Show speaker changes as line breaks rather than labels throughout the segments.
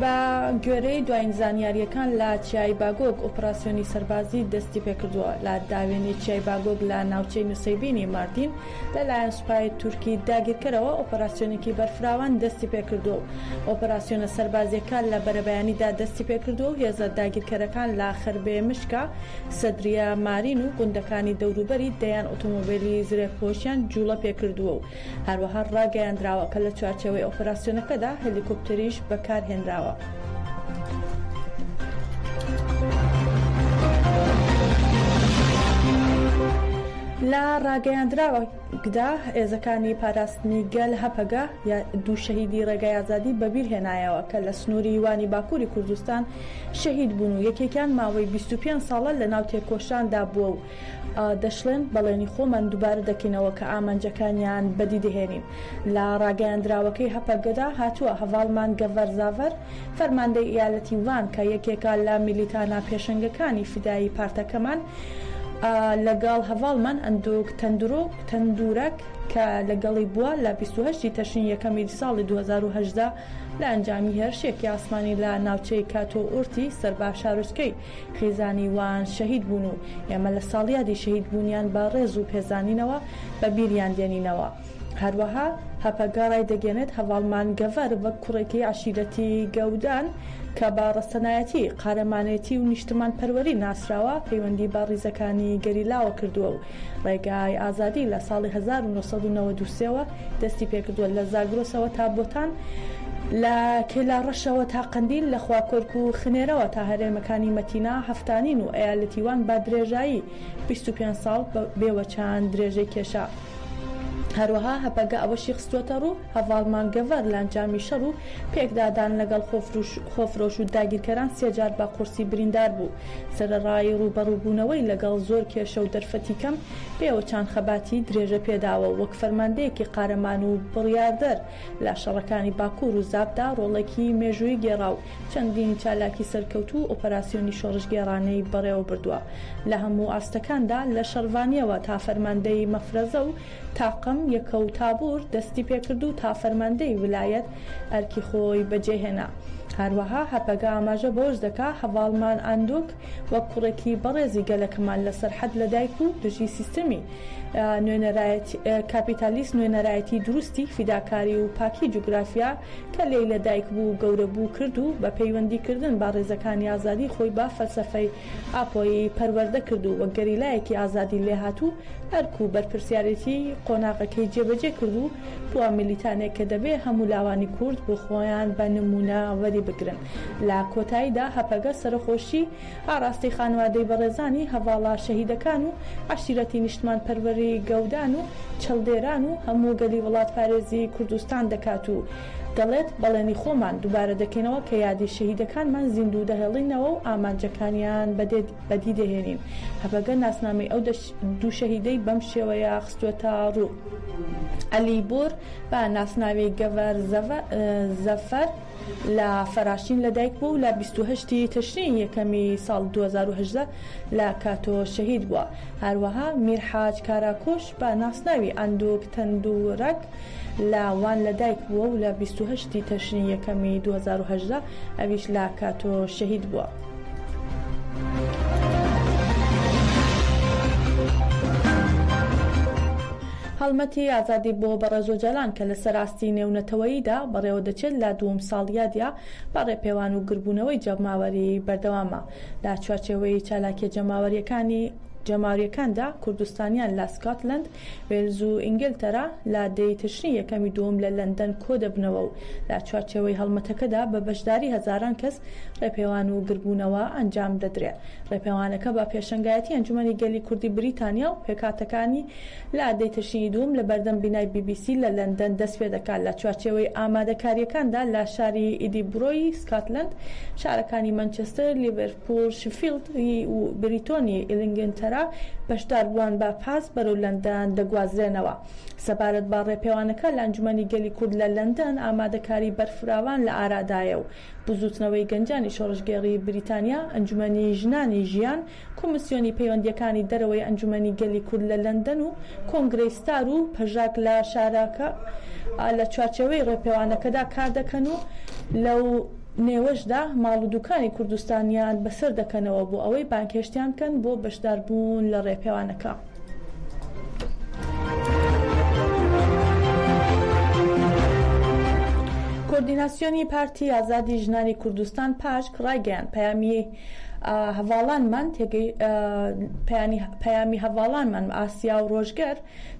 بە گوێرەی دواین زانیارییەکان لە چیای باگۆگ ئۆپراسیۆنی سەربازی دەستی پێکردووە لە داوێنی چیای باگۆگ لە ناوچەی نوسەیبینی ماردین لە لایەن سوپای تورکی داگیرکەرەوە ئۆپراسیۆنێکی بەرفراوان دەستی پێکردووە و ئۆپراسیۆنە سەربازییەکان لە بەرەبەیانیدا دەستی پێکردووە و هێزە داگیرکەرەکان لە خربێ مشکە سەدریە مارین و گوندەکانی دەوروبەری دەیان ئۆتۆمۆبیلی زرێپۆشیان جووڵە پێکردووە و هەروەها ڕاگەیاندراوە کە لە چوارچێوەی ئۆپەراسیۆنەکەدا هەلیکۆپتەریش بەکارهێنراوە. لە ڕاگەیاندراوێکدا هێزەکانی پاراستنی گەل، هەپەگە، دوو شەهیدی ڕێگای ئازادی بەبیر هێنایەوە کە لە سنووری وانی باکووری کوردستان شەهید بوون و یەکێکیان ماوەی بیست و پێنج ساڵە لەناو تێکۆشاندا بووە و دەشڵێن، بەڵێنی خۆمان دووبارە دەکەینەوە کە ئامانجەکانیان بەدی دەهێنین. لە راگەیاندراوەکەی هەپەگەدا هاتووە، هەڤاڵمان گەڤەر زاڤەر، فەرماندەی ئیالەتی وان کە یەکێکە لە میلیتانە پێشەنگەکانی فیدایی پارتەکەمان لەگەڵ هەڤاڵمان ئەندوک تەندورەک کە لەگەڵی بووە لە بیست و هەشت تەشرینی یەکەمی ساڵی دوو هەزار و هەژدە لە ئەنجامی هێرشێکی ئاسمانی لە ناوچەی کاتۆ ئورتی سەر بە شارۆچکەی خێزانی وان شەهید بوون و ئێمە لە ساڵیادی شەهید بوونیان بە ڕێز و پێزانینەوە بە بیریان دێنینەوە. هەروەها هەپەگە ڕایدەگەێنێت هەڤاڵ مانگەڤەر وەک کوڕێکی عەشیرەتی گەودان کە بە ڕەسەنایەتی، قارەمانێتی و نیشتمان پەروەری ناسراوە پەیوەندی بە ڕیزەکانی گەریلاوە کردووە و ڕێگای ئازادی لە ساڵی هەزار و نۆ سەد و نەوەد و سێ وە دەستی پێکردووە لە زاگرۆسەوە تا بۆتان، لە کێلاڕەشەوە تا قەندیل، لە خواکۆرک و خنێرەوە تا هەرێمەکانی مەتینا، هەفتانین و ئەیالەتی وان بە درێژایی بیست و پێنج ساڵ بێ وەچان درێژەی کێشا. هەروەها هەپەگە ئەوەشی خستووەتەڕوو، هەڤاڵ مانگەڤەر لە ئەنجامی شەڕ و پێکدادان لەگەڵ خۆفرۆش و داگیرکەران سێ جار بە قورسی بریندار بوو. سەرەڕای ڕووبەڕووبوونەوەی لەگەڵ زۆر کێشە و دەرفەتی کەم، پێوە چان خەباتی درێژە پێداوە وەک فەرماندەیەکی قارەمان و بڕیاردەر لە شەڕەکانی باکوور و زاپدا ڕۆڵێکی مێژوویی گێڕا و چەندین چالاکی سەرکەوتوو و ئۆپەراسیۆنی شۆڕشگێڕانەی بەڕێوە بردووە لە هەموو ئاستەکاندا لە شەڕڤانییەوە تا فەرماندەیی مەفرەزە و تاقم یەکە و تابور دەستی پێکرد و تا فەرماندەیی ولایەت ئەرکی خۆی بەجێهێنا هەروەها هەپەگە ئاماژە بەوەش دەکا هەڤاڵمان ئاندوک وەک کوڕێکی بەڕێزی گەلەکەمان لە سەرحەد لە دایک و دژی سیستەمی نوێنەرایەتی کاپیتالیست نوێنەرایەتی دروستی فیداکاری و پاکی جوگرافیا کە لێی لە دایک بوو و گەورە بوو کرد و بە پەیوەندی کردن با ڕێزەکانی ئازادی خۆی بە فەلسەفەی ئاپۆیی پەروەردە کرد و وەک گەریلایەکی ئازادی لێهاتوو ئەرک و بەرپرسیارێتی قۆناغەکەی جێبەجێ کرد و بووە میلیتانێک کە دەبێ هەموو لاوانی کورد بۆ خۆیان بە نموونە وەری بگرن. لە کۆتاییدا هەپەگە سەرەخۆشی ئاڕاستەی خانوادەی بەڕێزانی هەڤاڵە شەهیدەکان و عەشیرەتی نیشتمانپەروەری گەودان و چەڵدێران و هەموو گەلی وڵاتپارێزی کوردستان دەکات و دەڵێت بەڵێنی خۆمان دووبارە دەکەینەوە کە یادی شەهیدەکانمان زیندوو دەهێڵینەوە و ئامانجەکانیان بەدی دەهێنین. هەپەگە ناسنامەی ئەو دوو شەهیدەی بەم شێوەیە خستووەتە ڕوو، عەلی بۆر بە ناسناوی گەڤەر زەفەر، لە فەراشین لەدایک بووە و لە بیست و هەشت ی تشرینی یەکەمی ساڵ دوو هەزار و هەژدە لە کاتۆ شەهید بووە. هەروەها میرحاج کاراکوش بە ناسناوی ئاندوک تەندورەک لە وان لەدایک بووە و لە بیست و هەشت ی تشرینی یەکەمی دوو هەزار و هەژدە ئەویش لە کاتۆ شەهید بووە. هەڵمەتی ئازادی بۆ بەڕێز ئۆجالان کە لەسەر ئاستی نێونەتەوەییدا بەڕێوە دەچێت لە دووەم ساڵیادە بە ڕێپێوان و گربوونەوەی جەماوەری بەردەوامە لە چوارچێوەی چالاکیە جەماوەریەکانی جەماوریەکاندا کوردستانیان لە سکاتلەند وێلز و ئینگلتەرا لە دە ی تشرینی یەکەم ی دووەم لە لەندەن کۆدەبنەوە و لە چوارچێوەی هەڵمەتەکەدا بە بەشداری هەزاران کەس ڕێپێوان و گردبوونەوە ئەنجام دەدرێ. ڕێپێوانەکە بە پێشەنگایەتی ئەنجومەنی گەلی کوردی بریتانیا و پێکهاتەکانی لە دە ی تشرینی دووەم لە بەردەم بینای بی بی سی لە لەندەن دەست پێ دەکات لە چوارچێوەی ئامادەکارییەکاندا لە شاری ئیدیبرۆی سکاتلەند، شارەکانی مانچستر، لیڤەرپوول، پۆڵ شفیڵد ی و بریتۆنی ئیلینگنتەرا بەشداربووان بە پاس بەرەو لەندەن دەگوازرێنەوە. سەبارەت بە ڕێپێوانەکە لە ئەنجومەنی گەلی کورد لە لەندەن ئامادەکاری بەرفراوان لە ئارادایە و بزووتنەوەی گەنجانی شۆڕشگێڕی بریتانیا، ئەنجومەنی ژنانی ژیان، کۆمیسیۆنی پەیوەندییەکانی دەرەوەی ئەنجومەنی گەلی کورد لە لەندەن و کۆنگرەی ستار و پەژاک لە شارەکە لە چوارچێوەی ڕێپێوانەکەدا کاردەکەن و لەو نێوەشدا ماڵ و دوکانی کوردستانیان بەسەر دەکەنەوە بۆ ئەوەی بانگهێشتیان بکەن بۆ بەشداربوون لە ڕێپێوانەکە. کۆردیناسیۆنی پارتی ئازادی ژنانی کوردستان پاژک ڕایگەیاند پەیامی هەڤاڵانمان پەیامی هەڤاڵانمان ئاسیا و ڕۆژگەر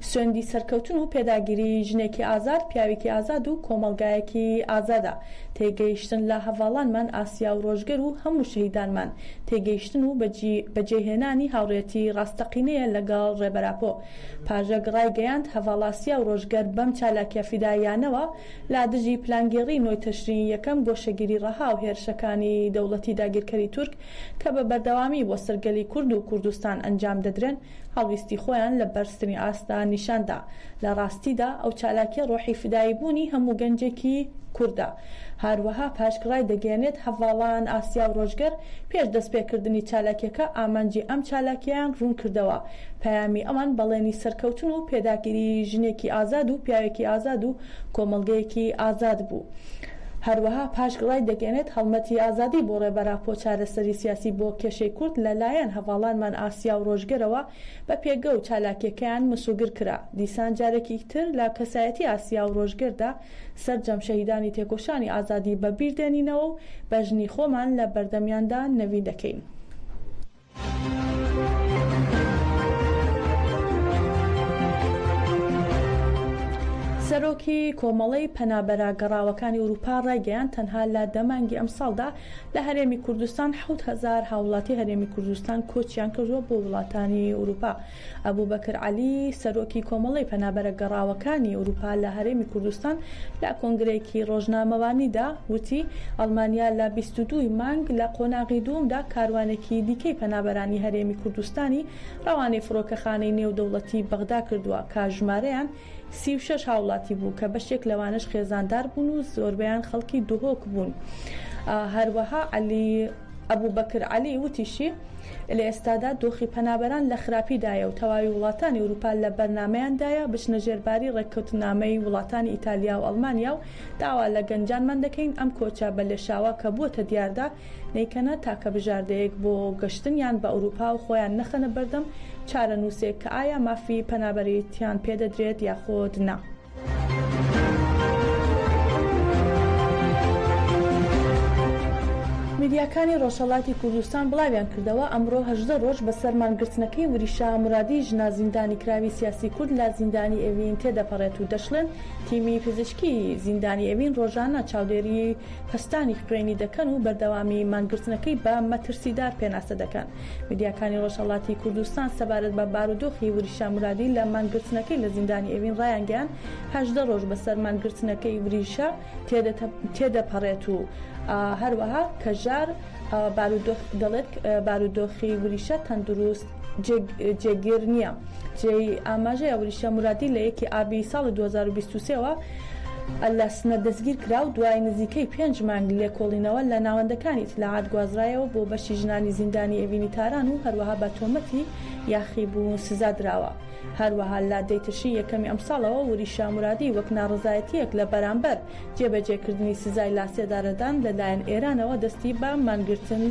سوێندی سەرکەوتن و پێداگیری ژنێکی ئازاد، پیاوێکی ئازاد و کۆمەڵگایەکی ئازادە. تێگەیشتن لە هەڤاڵانمان ئاسیا و ڕۆژگەر و هەموو شەهیدانمان، تێگەیشتن و بەجێهێنانی هاوڕێتی ڕاستەقینەیە لەگەڵ ڕێبەر ئاپۆ. پاژک ڕایگەیاند، هەڤاڵئاسیا و ڕۆژگەر بەم چالاکیە فیداییانەوە لە دژی پلانگێڕی نۆی تەشرینی یەکەم، گۆشەگیری ڕەها و هێرشەکانی دەوڵەتی داگیرکەری تورک کە بە بەردەوامی بۆ سەر گەلی کورد و کوردستان ئەنجام دەدرێن، هەڵویستی خۆیان لە بەرزترین ئاستدا نیشان دا. لە ڕاستیدا ئەو چالاکیە ڕۆحی فدایی بوونی هەموو گەنجێکی کوردە. هاروەها پاشک ڕایدەگەیەنێت هەڤاڵان ئاسیا و ڕۆژگەر پێش دەست پێ کردنی چالاکیەکە ئامانجی ئەم چالاکیەیان ڕوون کردەوە. پەیامی ئەوان بەڵێنی سەرکەوتن و پێداگری ژنێکی ئازاد و پیاوێکی ئازاد و کۆمەڵگەیەکی ئازاد بوو. هەروەها پاشک ڕایدەگەیەنێت هەڵمەتی ئازادی بۆ ڕێبەران خۆ چارەسەری سیاسی بۆ کێشەی کورد لە لایەن هەڤاڵانمان ئاسیا و ڕۆژگەرەوە بە پێگە و چالاکیەکەیان مسوگر کرا دیسان جارێکی تر لە کەسایەتی ئاسیا و ڕۆژگەردا سەرجەم شەهیدانی تێکۆشانی ئازادی بە بیر دێنینەوە و بەژنی خۆمان لە بەردەمیاندا نەوین دەکەین. سەرۆکی کۆمەڵەی پەنابەرە گەڕاوەکانی ئورووپا ڕایگەیان تەنها لە دە مانگی ئەمساڵدا لە هەرێمی کوردستان حەوت هەزار هاوڵاتی هەرێمی کوردستان کۆچیان کردووە بۆ وڵاتانی ئورووپا. ئەبوبەکر عەلی، سەرۆکی کۆمەڵەی پەنابەرە گەڕاوەکانی ئورووپا لە هەرێمی کوردستان لە کۆنگرەیەکی ڕۆژنامەوانیدا وتی، ئەڵمانیا لە بیست و دوو ی مانگ لە قۆناغی دووەمدا کاروانێکی دیکەی پەنابەرانی هەرێمی کوردستانی ڕەوانەی فڕۆکەخانەی نێودەوڵەتی بەغدا کردووە کە ژمارەیان سی و شەش هاوڵاتی بوو کە بەشێک لەوانەش خێزاندار بوون و زۆربەیان خەڵکی دهۆک بوون هەروەها عەلی ئەبوبەکر عەلی وتیشی لە ئێستادا دۆخی پەنابەران لە خراپیدایە و تەواوی وڵاتانی ئەوروپا لە بەرنامەیاندایە بچنە ژێرباری ڕێککەوتنامەی وڵاتانی ئیتالیا و ئەڵمانیا و داوا لە گەنجانمان دەکەین ئەم کۆچە بە لێشاوە کە بووەتە دیاردە نەیکەنە تاکە بژاردەیەک بۆ گەشتنیان بە ئەوروپا و خۆیان نەخەنە بەردەم چارەنووسێک کە ئایا مافی پەنابەریتیان پێ دەدرێت یاخود نا. میدیاکانی ڕۆژهەڵاتی کوردستان بڵاویان کردەوە، ئەمڕۆ هەژدە ڕۆژ بەسەر مانگرتنەکەی وریشا مورادی ژنە زیندانیکراوی سیاسی کورد لە زیندانی ئێوین تێدەپەڕێت و دەشڵێن، تیمی پزیشکی زیندانی ئێوین ڕۆژانە چاودێری پەستانی خوێنی دەکەن و بەردەوامی مانگرتنەکەی بە مەترسیدار پێناسە دەکەن. میدیاکانی ڕۆژهەڵاتی کوردستان سەبارەت بە بارودۆخی وریشا مورادی لە مانگرتنەکەی لە زیندانی ئێوین ڕایانگەیاند، هەژدە ڕۆژ بەسەر مانگرتنەکەی وریشا تێدەپەڕێت و هەروەها کەژار بارودۆخ دەڵێت، بارودۆخی وریشا تەندروست. جێگیر نییە. جێی ئاماژەیە وریشە مرادی لە یەکی ئابی ساڵی 2023 وە لە سنە دەستگیر کرا و دوای نزیکەی پێنج مانگ لێکۆڵینەوە لە ناوەندەکانی ئیتلاعات گوازرایەوە بۆ بەشی ژنانی زیندانی ئێڤینی تاران و هەروەها بە تۆمەتی یاخیبوون سزا دراوە. هەروەها لە دەی تشرینی یەکەمی ئەمساڵەوە وریشە مرادی وەک ناڕەزایەتییەک لە بەرامبەر جێبەجێکردنی سزای لاسێدارەدان لە لایەن ئێرانەوە دەستی بە مانگرتنی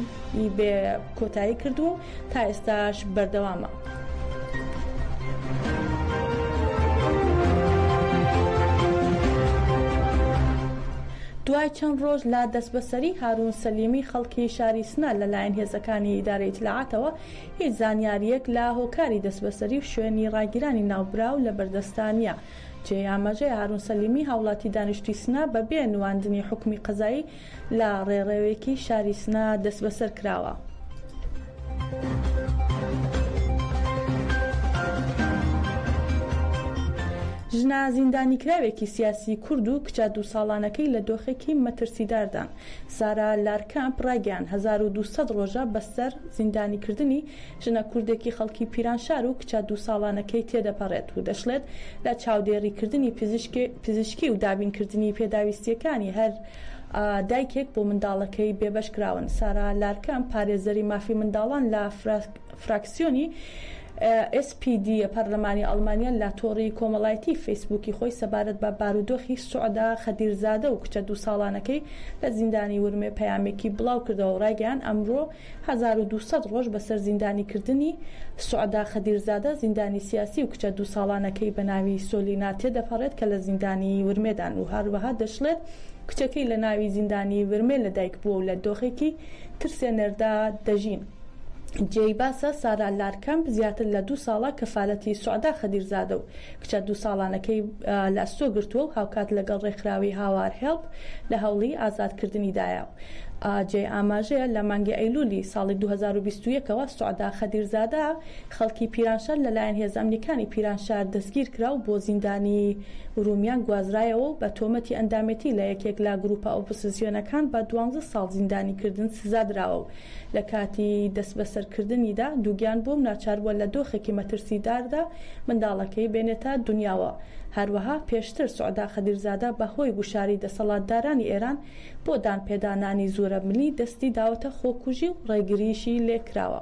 بێ کۆتایی کردووە و تا ئێستاش بەردەوامە. دوای چەند ڕۆژ لە دەستبەسەری هارون سەلیمی خەڵکی شاری سنە لەلایەن هێزەکانی ئیدارەی ئیتلاعاتەوە هیچ زانیارییەک لە هۆکاری دەستبەسەری و شوێنی ڕاگیرانی ناوبراو لەبەردەستدا نییە. جێی ئاماژەیە هارون سەلیمی هاوڵاتی دانیشتووی سنە بەبێ نواندنی حوکمی قەزایی، لە ڕێڕەوێکی شاری سنە دەسبەسەر کراوە. ژنە زیندانیکراوێکی سیاسی کورد و کچە دوو ساڵانەکەی لە دۆخێکی مەترسیداردان. سارا لارکەمپ ڕایگەیاند، هەزار و دوو سەد ڕۆژە بەسەر زیندانیکردنی ژنە کوردێکی خەڵکی پیرانشار و کچە دوو ساڵانەکەی تێدەپەڕێت و دەشڵێت، لە چاودێریکردنی پزیشکی و دابینکردنی پێداویستییەکانی هەر دایکێک بۆ منداڵەکەی بێبەشکراون سارا لارکەم پارێزەری مافی منداڵان لە فراکسیۆنی، SPD، ی پەرلەمانی ئەڵمانیا لە تۆڕی کۆمەڵایەتی فەیسبووکی خۆی سەبارەت بە بارودۆخی سوعدا خەدیرزادە و کچە دوو ساڵانەکەی لە زیندانی ورمێ پەیامێکی بڵاوکردەوە و ڕایگەیاند ئەمڕۆ، هەزار و دوو سەد ڕۆژ بەسەر زیندانی کردنی، سوعدا خەدیرزادە، زیندانی سیاسی و کچە دوو ساڵانەکەی بە ناوی سۆلینا تێدەپەڕێت کە لە زیندانی ورمێدان و هەروەها دەشڵێت کچەکەی لە ناوی زیندانی ورمێ لە دایک بووە و لە دۆخێکی ترسێنەردا دەژین. جێی باسە سارا لارکەمپ زیاتر لە دوو ساڵە کەفالەتی سوعدا خەدیرزادە و کچە دوو ساڵانەکەی لە ئەستۆ گرتووە و هاوکات لەگەڵ ڕێکخراوی هاوار هێڵپ لە هەوڵی ئازادکردنیدایە. جێی ئاماژەیە لە مانگی ئەیلوولی ساڵی دوو هەزار و بیست و یەک ەوە سوعدا خەدیرزادە خەڵکی پیرانشار لەلایەن هێزە ئەمنییەکانی پیرانشار دەستگیرکرا و بۆ زیندانی ورمیان گوازرایەوە و بە تۆمەتی ئەندامێتی لە یەکێک لە گرووپە ئۆپۆسزیۆنەکان بە دوانزە ساڵ زیندانیکردن سزادراوە و لە کاتی دەستبەسەرکردنیدا دووگیان بووە و ناچار بووە لە دۆخێکی مەترسیداردا منداڵەکەی بێنێتە دونیاوە. هەروەها پێشتر سوعدا خەدیرزادە بە هۆی گوشاری دەسەڵاتدارانی ئێران بۆ دانپێدانانی زورەملی دەستی داوەتە خۆکوژی و ڕێگرییشی لێکراوە.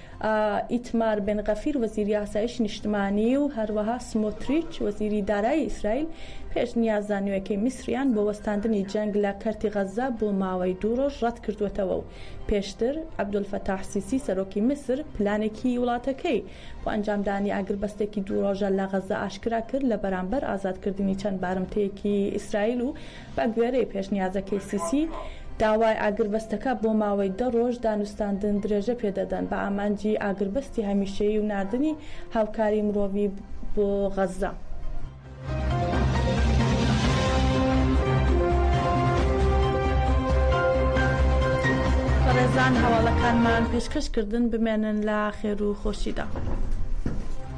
ئیتمار بێن غەفیر وەزیری ئاسایشی نیشتمانی و هەروەها سمۆتریچ وەزیری دارایی ئیسرائیل پێشنیازە نوێکەی میسریان بۆ وەستاندنی جەنگ لە کەرتی غەززە بۆ ماوەی دوو ڕۆژ ڕەت کردووەتەوە و پێشتر عەبدولفەتاح سیسی سەرۆکی میسر پلانێکی وڵاتەکەی بۆ ئەنجامدانی ئاگربەستێکی دوو ڕۆژە لە غەززە ئاشکرا کرد لە بەرامبەر ئازادکردنی چەند بارمتەیەکی ئیسرائیل و بە گوێرەی پێشنیازەکەی سیسی، داوای ئاگربەستەکە بۆ ماوەی دە رۆژ دانوستاندن درێژە پێ دەدەن بە ئامانجی ئاگربەستی هەمیشەیی و ناردنی هاوکاری مرۆڤی بۆ غەززە. بەڕێزان هەواڵەکانمان پێشکەش کردن بمێنن لە خێرو خۆشیدا.